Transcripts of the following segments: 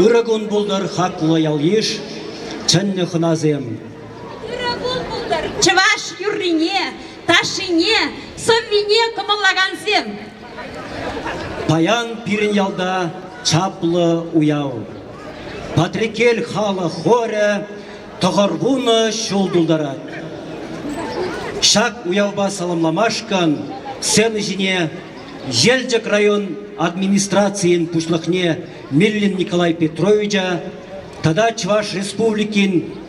Ырӑ кун пултӑр хаклӑ ял-йыш, чӗннӗ хӑнасем. Ырӑ кун пултӑр чӑваш юррине, ташшине, сӑввине кӑмӑллакансем. Паян пирӗн ялта чаплӑ уяв. Патреккел халӑх хорӗ тӑхӑр вунӑ ҫул тултарать. Ҫак уявпа саламламашкӑн сцена ҫине Елчӗк район администрацийӗн пуҫлӑхне Миллин Николай Петровича тата Чӑваш Республикин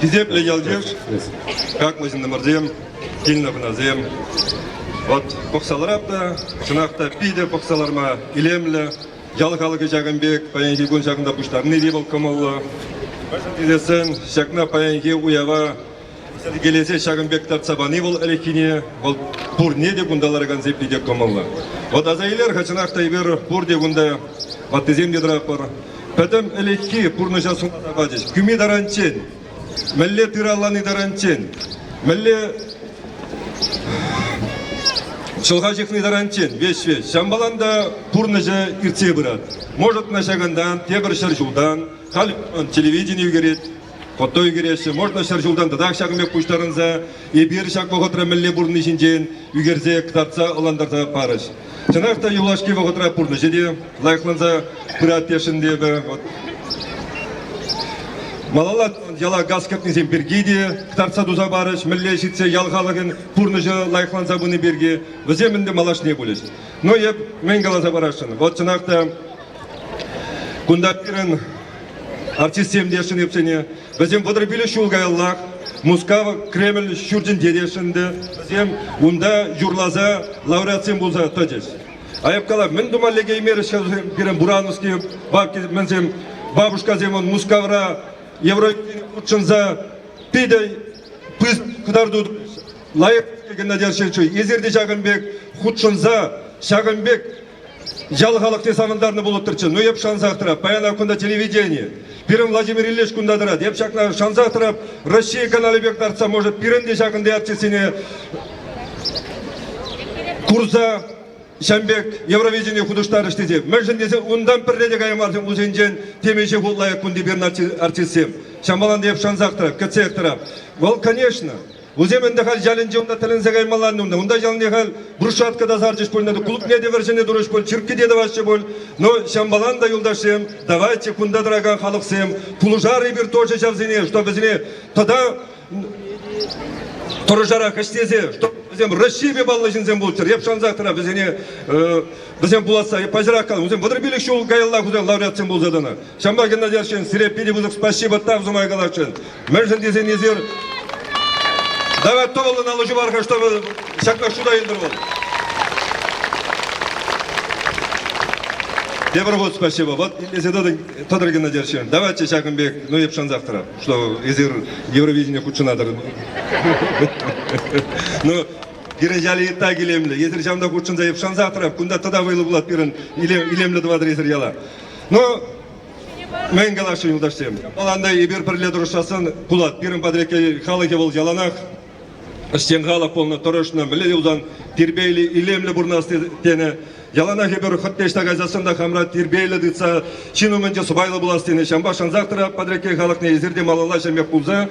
Хисеплӗ ялйыш, хаклӑ ҫыннӑмӑрсем, килнӗ хунасем. Вот пӑхса ларап та, чӑнах та питӗ пӑхса ларма илемлӗ. Ял халӑхӗ ҫакӑн пек паянхи кун ҫакӑнта пуҫтарни те вӑл кӑмӑллӑ. Мӗншӗн тесен ҫакна паянхи уява Йӗркелесе ҫакӑн пек тартса пани вӑл ӗлӗкхине вӑл пурне те кунта ларакансем питӗ кӑмӑллӑ. Вӑт аса илер-ха чӑнах та эпир пурте кунта ваттисем те тӑратпӑр. Пӗтӗм ӗлӗкхи пурнӑҫа сунаса пачӗҫ. Кӳми таранччен, мӗнле тыр аллани таранччен, мӗнле чӑлха ҫыхни таранччен веҫ-веҫ. Ҫамбалан та пурнӑҫӗ иртсе пырать. Может, на ҫакӑнтан, тепӗр ҫӗр ҫултан, халь телевидени ӳкерет, Кӑтӑй кӗреҫҫӗ, вӑрнӑ ҫӗр ҫултан тӑтах ҫакӑн пек пуҫтарӑнса, эпир ҫак вӑхӑтра мӗнле пурӑнни ҫинчен ӳкерсе кӑтартса ӑнлантарса парӗҫ. Чӑнах та юлашки вӑхӑтра пурнӑҫӗ те лайӑхланса пырать тесшӗн эпӗ. Малалла яла газ кӗртнисем пирки те кӑтартса туса парӗҫ. Мӗнле ҫитсе ял халӑхӗн пурнӑҫӗ лайӑхланса пыни пирки вӗсем ӗнтӗ малашне пулӗҫ. Но эп мӗн каласа парасшӑн, вот чӑнах та Кунта пирӗн артистсем те ӗҫченсене, вӗсем вӑтӑр пилӗк ҫул каяллах Мускав Кремль ҫуртӗнче те ӗҫленӗ. Вӗсем унта юрласа лауреатсем пулса тӑчӗҫ. Аяпкала мӗн тума лекеймерӗҫ-ха пирӗн Буранский бабкисем, бабушкасем Мускавра Евровидение хутшӑнса питӗ пыс кӑтарту лайӑх килнӗ терҫӗччӗ. Эсир те ҫакӑн пек хутшӑнса, ҫакӑн пек Ял халӑхне савӑнтарнӑ пулӑттӑрччӗ. Ну, эп шансах тӑрап. Паян кунта телевидени. Пирӗн Владимир Ильич кунта тӑрать. Эп ҫакна шансах тӑрап. Раҫҫей каналӗ пек лартса, может, пирӗн те ҫакӑн пек артистсене курса ҫам пек Евровидение хутӑштарӗҫ тесе. Мӗншӗн тесен унтан пӗрре те каймарсем усенчен темиҫе хут лайӑх кунти пирӗн артистсем. Ҫамалан та эп шансах тӑрап, кӗтсех тӑрап. Вӑл, конечно, Вӗсем ӗнтӗ халь ялӗнче унта тӗлӗнсе каймалла унта. Унта ялне халь брусчатка та сарчӗҫ пуль, клубне те вӗрҫӗне турӗҫ пуль, чирккӳ те тӑваҫҫӗ пуль. Но ҫамбалан та, юлташсем, давайте кунта тӑракан халӑхсем пулӑшар эпир тоже ҫавсене, чтобы вӗсене тата тӑрӑшарах ӗҫлесе, чтобы вӗсем Раҫҫейпе паллӑ ҫынсем пулччӑр. Эп шансах тӑра вӗсене, вӗсем пуласса паҫӑрах калам. Вӗсем вӑтӑр пилӗк ҫул каялла лауреатсем пулса тӑнӑ. Ҫамрӑк Геннадий арҫын, сире питӗ пысӑк спасибо тав сумай каласшӑн. Мӗншӗн тесен эсир давай тӑвӑллӑн аллӑ пар-ха, чтобы ҫакна шута илтӗр вӑл. Тепӗр хут спасибо. Вот итлесе тӑтӑр, тӑтӑр Геннадий арҫын. Давайте ҫакӑн пек, ну эп шансах тӑрап, что эсир Евровидение хутшӑнатӑр. Ну, кире ытта илемлӗ. Эсир ҫавӑнта хутшӑнса эп шансах тӑрап. Кунта тата вӑйлӑ пулать пирӗн илем, илемлӗ тӑватӑр эсир яла. Ну, мӗн калаҫҫӗ юлташсем? Ӑланда эпир пӗрле тӑрӑшассан пулать. Пирӗн патреккел халӑхӗ вӑл яланах ӗҫчен халӑх пулнӑ, тӑрӑшнӑ, мӗнле юлсан тирпейлӗ, илемлӗ пурӑнас тенӗ. Яланах эпир хӑть ӑҫта кайсассӑн та хамра тирпейлӗ тытса ҫын умӗнче сӑпайлӑ пулас тенӗ. Ҫавӑнпа шансах тӑрать Патреккел халӑхне эсир те малалла ҫӗрмех пулса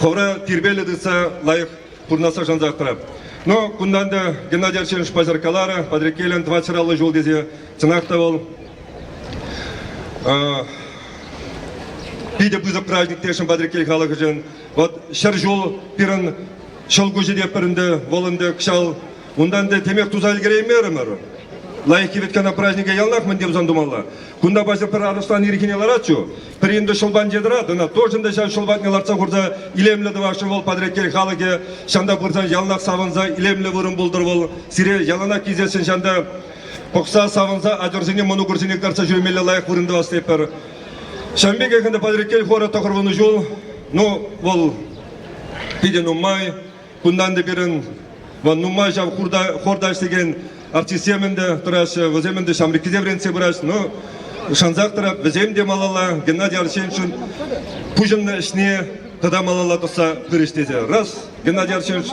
хӑвӑра тирпейлӗ тытса лайӑх пурӑнасса шантартӑмӑр. Но кунтан та Геннадий Арсеньевич паҫӑр каларӗ, Патреккелӗн тӑван ҫӗраллӑ ҫул тесе. Чӑнах та вӑл питӗ пысӑк праздник тесшӗн Патреккел халӑхӗшӗн. Вот ҫӗр ҫул пирӗн ҫӑл куҫӗ те пӗр ӗнтӗ, вӑл ӗнтӗ кӑҫал. Унтан те темех туса ӗлкӗреймерӗмӗр. Лайӑх кивӗт кана празднике яланах мӗн те тусан тумалла. Кунта паҫӑр пӗр арӑслан ирхине ларатчу. Пӗринтӗ ҫул панче тӑрать, ӑна тоже ӗнтӗ ҫав ҫул патне лартса хурса илемлӗ тӑваҫҫӗ вӑл Патреккел халӑхӗ. Ҫанта пырсан яланах савӑнса илемлӗ вырӑн пултӑр вӑл. Сире яланах килсессӗн ҫанта пӑхса, савӑнса ачӑрсене, мӑнукӑрсене кӑтартса ҫӳремелле лайӑх вырӑн тӑвас тетпӗр. Ҫавӑн пекех ӗнтӗ Патреккел хора тӑхӑрвунӑ ҫул, ну, вӑл питӗ нумай. Кунтан та пирӗн вӑл нумай ҫав хорта ӗҫлекен артистсем ӗнтӗ тӑраҫҫӗ, вӗсем ӗнтӗ ҫамрӑккисем вӗрентсе пыраҫҫӗ. Ну, шансах тӑрап, вӗсем те малалла Геннадий Арсеньевичӑн пуҫӑннӑ ӗҫне тата малалла тӑсса пырӗҫ тесе. Раз, Геннадий Арсеньевич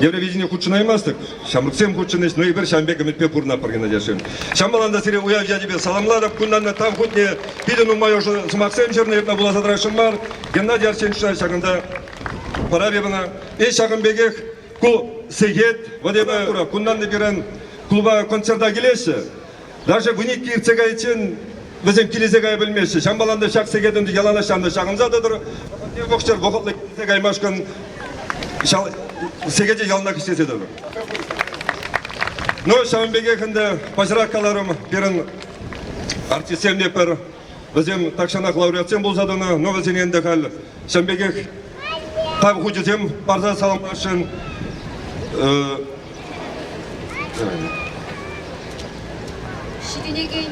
Евровидение хутшӑнаймастӑк, ҫамрӑксем хутшӑнӗҫ, ну эпир ҫавӑн пек ӗмӗтпе пурӑнатпӑр, Геннадий Арсеньевич. Ҫамрӑклан та сире уяв ячӗпе саламлатӑп. Кунтан та тав хутне питӗ нумай ӑшӑ сӑмахсем ҫырнӑ, иртнӗ вуласа тӑрасшӑн мар. Геннадий Арсеньевича ҫакӑнта Парар-и мана? Эй, ҫакӑн пекех ку сехет, вот я кура, кунтан пирӗн клуба концерта килеҫҫӗ. Даже вуникке иртсе кайиччен вӗсем килесе кая пӗлмеҫҫӗ. Ҫампалан та ҫак сехетӗн яланаҫҫан та ҫакӑнса тӑтӑр. Вӑхӑтсӑр вӑхӑтлӑ килсе каймашкӑн сехете яланах ӗҫлесе тӑтӑр. Ну, ҫавӑн пекех ӗнтӗ паҫӑрах каларӑм пирӗн артистсемпе пӗр Вӗсем тахҫанах лауреатсем пулса тӑнӑ, но вӗсене ӗнтӗ халь ҫавӑн пекех тав хучӗсем парса саламласшӑн. Ҫитӗнекен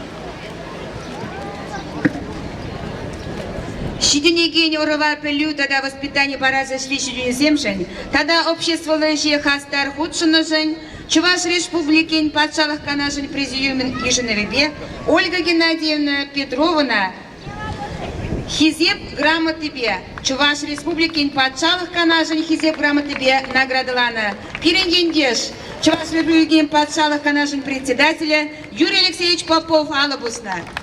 ҫитӗнекен ӑрӑва пӗлӳ тата воспитани парас ӗҫри ҫитӗнӳсемшӗн тата обществӑлла ӗҫе хастар хутшӑннӑшӑн Чӑваш Республикин Патшалӑх Канашӗн Президиумӗн йышӑнӑвӗпе Ольга Геннадьевна Петрована Хисеп грамотипе, Чӑваш Республикин Патшалӑх Канашӗн Хисеп грамотипе наградӑланӑ. Пирӗн ентеш, Чӑваш Республикин Патшалӑх Канашӗн Председателӗ Юрий Алексеевич Попов алӑ пуснӑ.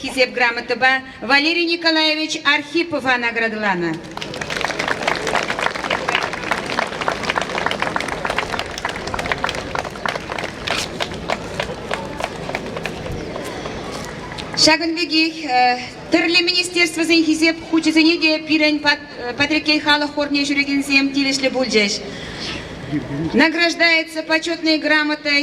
Хисеп грамотӑпа Валерий Николаевич Архипова наградӑланӑ. Ҫакӑн пекех тӗрлӗ министерствӑсен хисеп хучӗсене те пирӗн Патреккел халӑх хорне ҫӳрекенсем тивӗҫлӗ пулчӗҫ. Награждается почетной грамотой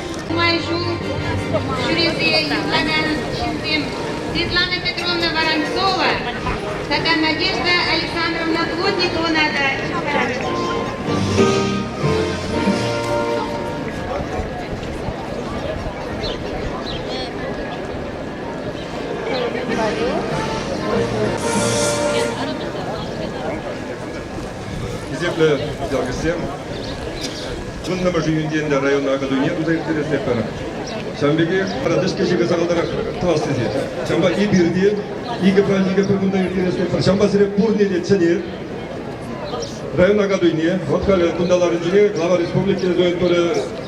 Нумай ҫул ҫӳресе юрлакан ҫынсем Светлана Петровна Воронцова тата Надежда Александровна Плотниковӑна та чыптарӗҫ. хисеплӗ ял-кӗсем. Вуннӑмӗш июньтен те района акатуйне туса ирттересетпӗр. Ҫавӑн пекех пратиш кӗҫӗхе сахалтарах тас тесе. Ҫавӑнпа эпир те икӗ праздника пӗр кунта ирттересетпӗр. Ҫавӑнпа сире пурне те чӗнет. Район акатуйне, вӑт халӗ кунта ларнинче Глава республики Зоин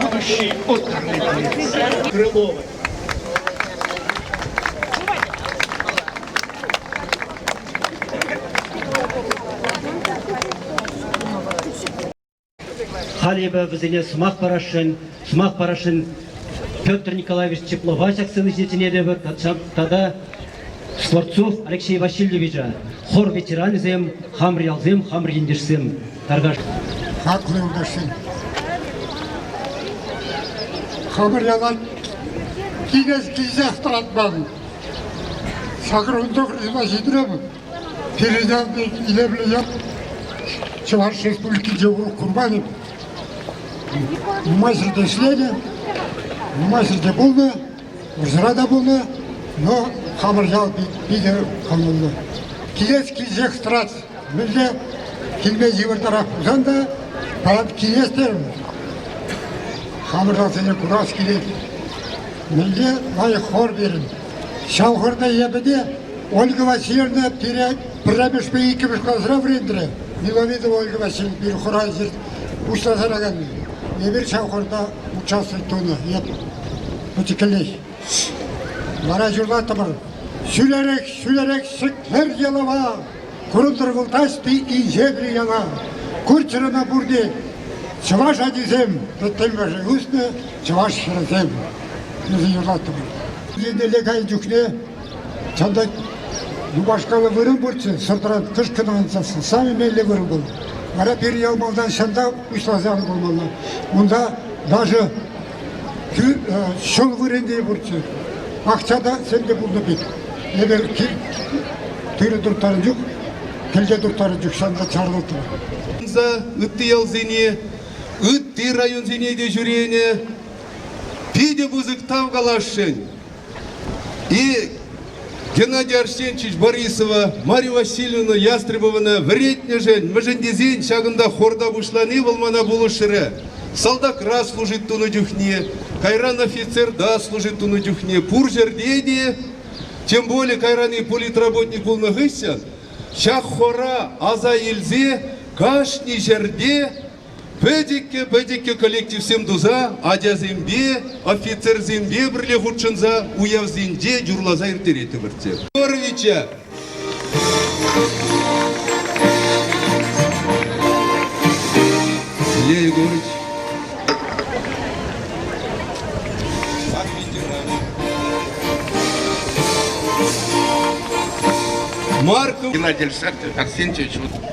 Будущий отдых Крыловой. Халь эпӗ вӗсене сӑмах парасшӑн, сӑмах парасшӑн Петр Николаевич Теплова ҫак сцена ҫине чӗнетӗпӗр тата Скворцов Алексей Васильевича, хор ветеранӗсем, хамӑр ялсем, хамӑр ентешсем, таркаш. Хаклӑ юлташсем. Хамӑр ялан килес килсех тӑратман. Сакрунтов Рина ҫитрем. Передан илемлӗ ят Чӑваш Республикинче курманӗ. Маҫӗ те ӗҫленӗ, маҫӗ те пулнӑ. Усра та пулнӑ, но хамӑр ял питӗ кӑмӑллӑ. Килес килсех тӑрать. Мӗнле килме йывӑртарах пулсан та паян килес терӗмӗр. Хамӑрлансене курас килет. Мӗнле лайӑх хор берем. Ҫав хорна эпӗ те Ольга Васильевна пире пӗрремӗшпе иккӗмӗш класра вӗрентрӗ. Миловидова Ольга Васильевна пир хора пуҫласа тӑраканни. Эпир ҫав хорта Участок тунӑ, нет, пӗчӗккӗлех. Вара ҫурлаттӑмӑр. Ҫӳлерех, ҫӳлерех сӗтвер ялава. Курӑнтӑр вылтаҫ-и инҫетри яла? Курчӗрӗмӗ пурте чӑваш ачисем, пӗттӗмӗршӗн уснӑ чӑваш хӗрӗсем. Вӗсем юрлаттӑмӑр. Еннелле кайнӑ чухне Тата юпашкалла вырӑн пурччӗ, сӑртран кӑшкӑн ансассӑн. Самый меллӗ вырӑн был. Вара пирӗн ял малтан ҫанталӑк пуҫласа пымалла. Унта даже ҫул вырӑнти пурччӗ. Акча та сенде пулнӑ пек. Эпир тырӑ турттарнӑ чух, кӗлте турттарнӑ чух ҫанта чарлӑттӑмӑр. Ытти ялсене, ытти районсене те ҫӳренӗ. Питӗ пысӑк тав каласшӑн. И Геннадий Арсеньевич Борисова, Марья Васильевна Ястребована вӗретнӗшӗн мӗншӗн тесен ҫакӑнта хорта пуҫлани вӑл мана пулӑшрӗ. Салтакра служить тунӑ чухне, кайран офицерта служить тунӑ чухне пур ҫӗрте те, тем более кайран и политработник пулнӑ хыҫҫӑн ҫак хора аса илсе кашни ҫӗрте Пӗтӗккӗ-пӗтӗккӗ коллективсем туса ачасемпе, офицерсемпе пӗрле хутшӑнса уявсенче юрласа ирттерет ӗмӗртсем. Егоровича Илья Егорович как ветеран. Марков Геннадий Александрович Арсентьевич, вот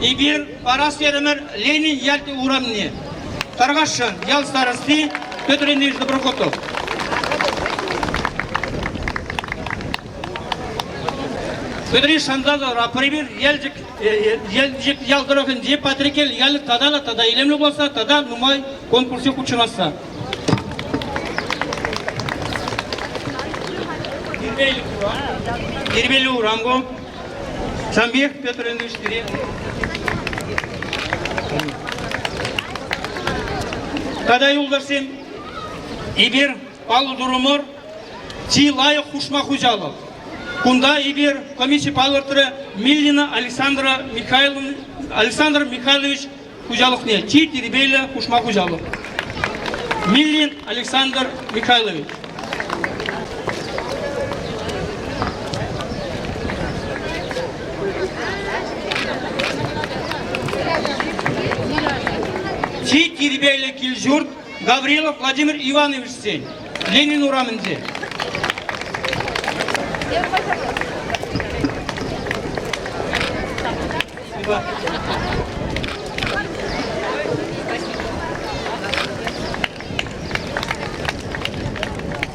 Эпир парас терӗмӗр Ленин ялти урамне. Таргашшан ял старости Петр Ильич Доброхотов. Петри Шандалов, Апрель Елчӗк, Елчӗк ял тӑрӑхӗнчи Патрикел ялӗ тата та тата илемлӗ пулса тата нумай конкурсҫи хутшӑнасса. Дербель урам ку. Ҫампиях Петр Ильич пире. Тата юлташсем, эпир паллӑ турӑмӑр чи лайӑх хушма хуҫалӑх. Кунта эпир комисси палӑртрӗ Миллина Александра Михайловна Александр Михайлович хуҫалӑхне чи тирпейлӗ хушма хуҫалӑх. Миллин Александр Михайлович. Чи тирпейлӗ кил-ҫурт Гаврилов Владимир Ивановичсен Ленин урамӗнче.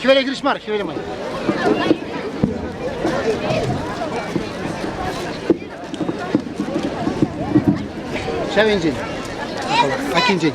Хӗвеле хирӗҫ мар, хӗвеле мар. Ҫав енчен. Акинчен.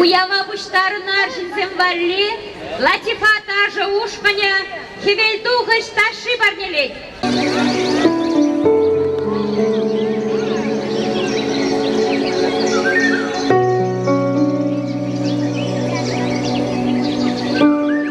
Уява пуҫтарӑннӑ арҫынсем валли латифа ташӑ ушкӑнӗ хӗвелтухӑҫ ташши парнелет.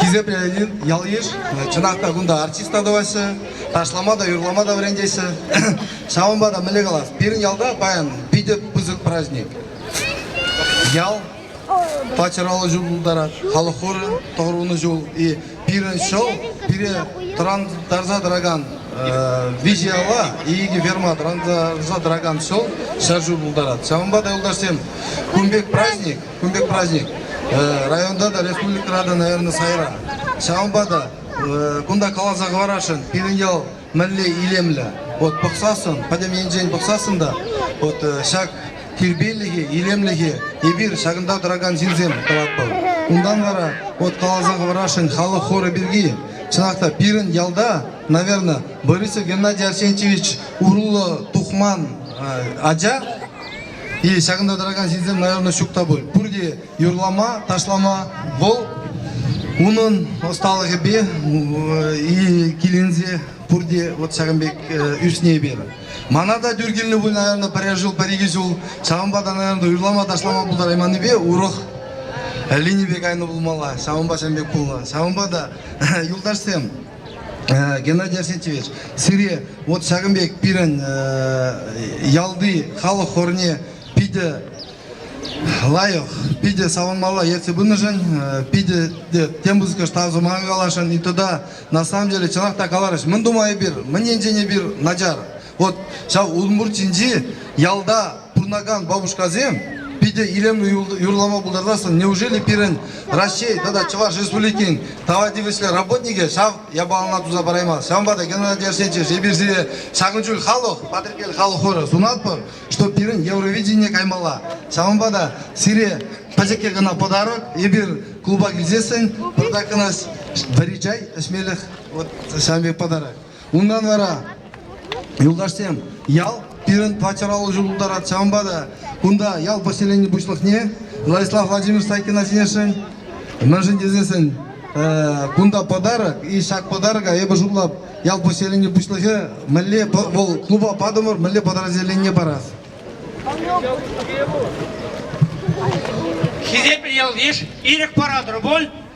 Хисеп районӗн ял-йыш, чӑнах та кунта артиста тӑваҫҫӗ, ташлама та, юрлама та вӗрентеҫҫӗ. Ҫавӑнпа та мӗнле калас, пирӗн ялта паян питӗ пысӑк праздник. Ял пачӑраллӑ ҫул пултарать, халӑх хорӗ тӑхӑрвунӑ ҫул. И пирӗн ҫӑл, пире тӑрантарса тӑракан виҫӗ яла икӗ ферма тӑрантарса тӑракан ҫӑл ҫӗр ҫул пултарать. Ҫавӑнпа та юлташсем, кун пек праздник Кун пек праздник районта та, республикӑра та, наверное, сайра. Ҫавӑнпа та кунта каласа хӑварасшӑн пирӗн ял мӗнле илемлӗ. Вот пӑхсассӑн, пӗтӗм енчен пӑхсассӑн та, вот ҫак тирпейлӗхе, илемлӗхе эпир ҫакӑнта тӑракан ҫынсем тӑватпӑр. Унтан вара вот каласа хӑварасшӑн халӑх хорӗ пирки. Чӑнах та пирӗн ялта, наверное, Борисов Геннадий Арсентьевич уруллӑ тухман ача И ҫакӑнта тӑракан ҫынсем, наверное, ҫук та пуль. Пурте юрлама, ташлама вӑл унӑн ӑсталӑхӗпе и киленсе пурте вот ҫакӑн пек ӳсни эпир. Мана та тӳр килнӗ пуль, наверное, пӗрер ҫул, пӗр икӗ ҫул. Ҫавӑнпа та, наверное, юрлама, ташлама пултарайманнипе урӑх линипе кайнӑ пулмалла. Ҫавӑнпа ҫын пек пулнӑ. Ҫавӑнпа та, юлташсем, Геннадий Осетьевич, сире вот ҫакӑн пек пирӗн ялти халӑх хорне питӗ лайӑх, питӗ савӑнмалла ертсе пынӑшӑн, питӗ тем пысӑкӑш тав сӑмаха каласшӑн. И туда на самом деле чӑнах та каларӑш, мӗн тума эпир, мӗн енчен эпир начар, Вот ҫав Улмуртинчи ялта пурӑнакан бабушкасем питӗ илемлӗ юрлама пултарасшӑн. Неужели пирӗн Раҫҫей тата Чӑваш Республикин тава тивӗҫлӗ работникӗ ҫав япалана туса параймасть? Ҫавӑнпа та Геннадий Арсентьевич эпир сире ҫакӑн чуль халӑх, Патреккел халӑх хорӗ сунатпӑр, что пирӗн Евровидение каймалла. Ҫавӑнпа та сире пӗчӗкке кӑна подарок. Эпир клуба килсессӗн пӑртак кӑна вӗри чай, ӗҫмелӗх вот ҫавӑн пек подарок. Унтан вара юлташсем ял пирӗн патшалӑх алӑ тултарать. Ҫавӑнпа та кунта ял поселени пуҫлӑхне Владислав Владимирович Сайкина сӗнесшӗн. Мӗншӗн тесессӗн кунта подарок, и ҫак подарока эпӗ шутлап ял поселени пуҫлӑхӗ мӗнле вӑл клуба патӑмӑр, мӗнле подразделение парас. Хисеплӗ ялйыш, ирӗк паратӑр пуль?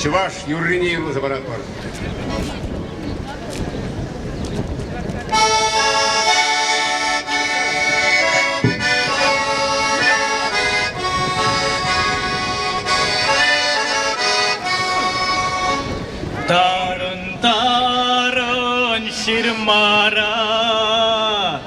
чӑваш юррине юрласа паратпӑр. Тарӑн-тарӑн ҫырмара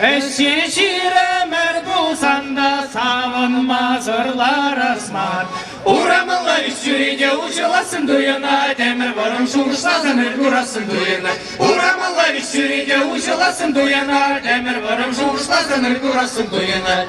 Ӗҫе ҫирӗмӗр пулсан савӑнмасӑр ларас мар. Урамалла ӳс ҫӳрете уҫӑлассӑн туйӑнать, Ӗмӗр вӑрӑм шухӑшласан ыр курассӑн туйӑнать. Урамалла ӳс ҫӳрете уҫӑлассӑн туйӑнать, Ӗмӗр вӑрӑм шухӑшласан ыр курассӑн туйӑнать.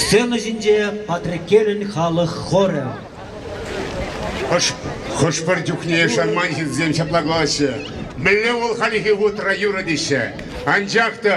Сцена ҫинче Патреккелӗн халӑх хорӗ. Хӑш-пӗр чухне шанман ҫынсем ҫапла калаҫҫӗ. Мӗнле вӑл хальхи хутра юрӑ теҫҫӗ. Анчах та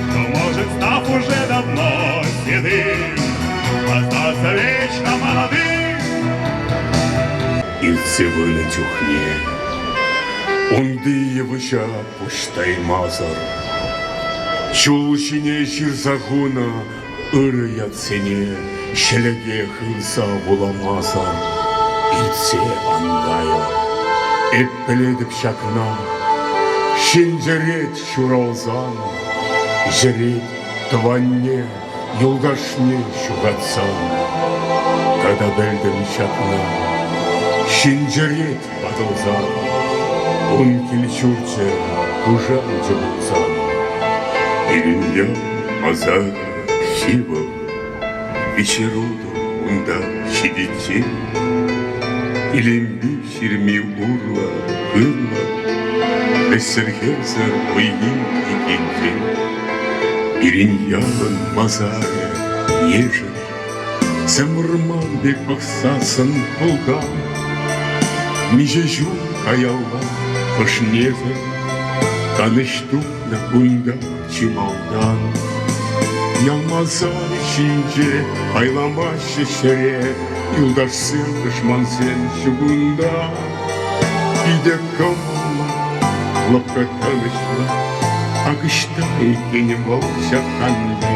Может, став уже давно седым, Остаться вечно молодым. Илсе выльнӑ чухне Унти йывӑҫа пуҫтаймасӑр Ҫул ҫине ҫырса хунӑ ырӑ ятсене Ҫӗлӗке хырса вуламасӑр Илсе ан кайӑр Эп пӗлетӗп ҫакна Ҫӗнтерет Ҫуралсан йӗрет тӑванне, юлташне ҫухатсан. Тата пӗлтӗм ҫакна, ҫинҫерет ватӑлсан. Ун кил-ҫурчӗ пушанчӑ пулсан. Иллюзион ӑсар ҫывӑх, вечерутӑх унта ҫитиччен. Илемпӳ Ҫирми урлӑ, хывлӑ, вӗҫсӗрхесӗр вӑййи икенчен. Пирӗн ялӑн масарӗ ешӗл, Сӗмӑрман пек пӑхсассӑн пӑлкам. Миҫе ҫул каялла хӑшнесӗр Канӑҫ тупнӑ кунта чи малтан. Ялмасар ҫинче айламаҫҫӗ ҫӗре юлташсем, тӑшмансем чугунта. Питӗ кӑмӑллӑ, лӑпкӑ калаҫма, акӑшта иккен вӑл ҫаканни.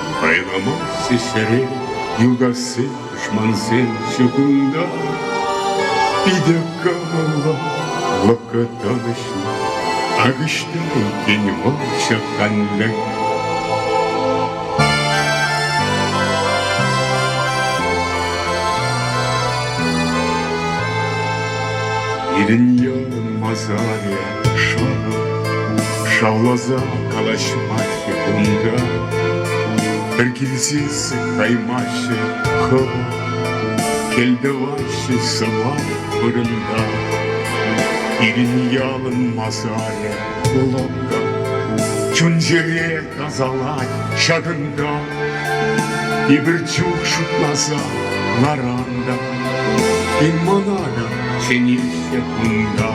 Кайрӑмах сисрӗ юкасси тӑшмансен чукунта. Питӗ кӑмӑллӑ, вӑкӑтӑнӑҫлӑ, акӑшта иккен вӑл ҫак канлӗх. Пирӗн ялӑн масарӗ шӑнӑ шавласа калаҫмаҫҫӗ кунта. Пӗр килсессӗн каймаҫҫӗ хӑва, кӗлтӑваҫҫӗ сӑвап вырӑнта. Пирӗн ялӑн масарӗ лӑпкӑ, чун-чӗре Касалать ҫакӑнта Эпир чух шутласа ларанта Ин мана та хӗнеҫҫӗ кунта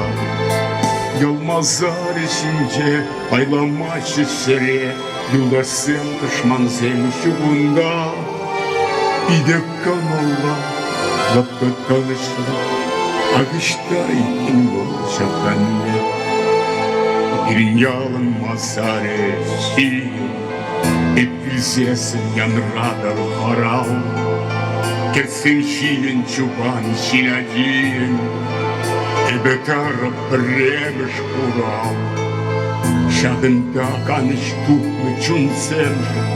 Йӑлмасарӗ ҫинче Пайламаҫҫӗ ҫӗре Юлташсем, тӑшмансем ҫукунта Питӗ Кӑмӑлла лӑпкӑ калаҫма, Aviştay вӑл ҫаканне. Пирӗн ялӑн масарӗ ҫил, Эппӳсесӗн янратӑр хӑрал. Кӗтсен ҫилӗн чупан ҫил ачин, Эпӗ карӑп Пӗрремӗш хурав. Ҫакӑнта канӑҫ тупнӑ чунсемшӗн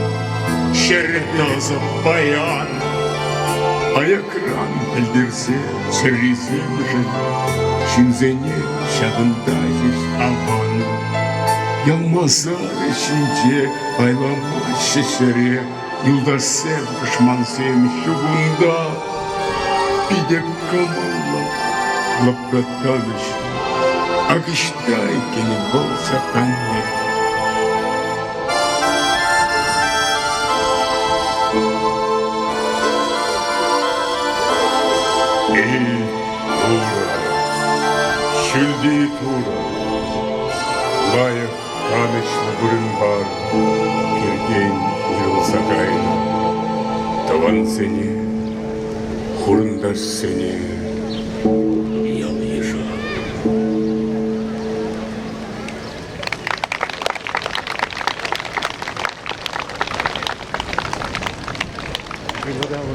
Ҫӗрӗ тӑсӑ паян Аякран пӗлтерсе чӗрисемшӗн Ҫынсене ҫакӑнта ҫеҫ аван Ял масарӗ ҫинче Пайламаҫҫӗ ҫӗре Юлташсем, тӑшмансем ҫук унта. Питӗ кӑмӑллӑ лӑплаттарӗҫ. Ак ӑҫта иккенӗ вӑл саканне. Эй, Турӑ, ҫӳлти Турӑ, лайӑх Канӑҫлӑ вырӑнпа Керкей уйрӑлса кайнӑ тӑвансене, хурӑнташсене, ял-йыша. Благодарю.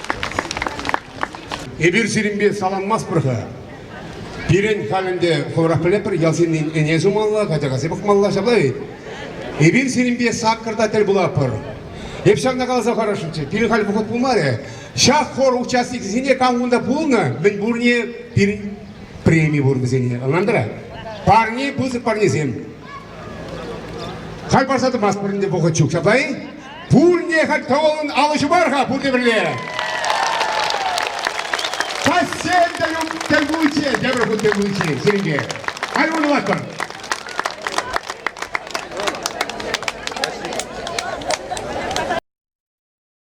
Эпир сирӗнпе саланмастпӑр-ха. Пирӗн халь ӗнтӗ хӑвӑрах пӗлетпӗр, ял ҫыннин ӗне сумалла, качака пӑхмалла, ҫапла вӗт? Эпир сирӗнпе саккӑрта тӗл пулатпӑр. Эп ҫакна каласа хӑрасшӑнччӗ, пирӗн халь вӑхӑт пулмарӗ. Ҫак хор участникӗсене кам кунта пулнӑ, мӗн пурне пирӗн преми пур вӗсене. Ӑнлантӑра? Парне, пысӑк парнесем. Халь парса тӑмастпӑр ӗнтӗ вӑхӑт ҫук ҫапла-и? Пурне хать кӑвӑлӑн алӑҫу мар-ха пурте пӗрле. Чаҫсем те ют тӗл пуличчен тепӗр хут тӗл пуличчен сирӗнке. Халь уйрӑлатпӑр.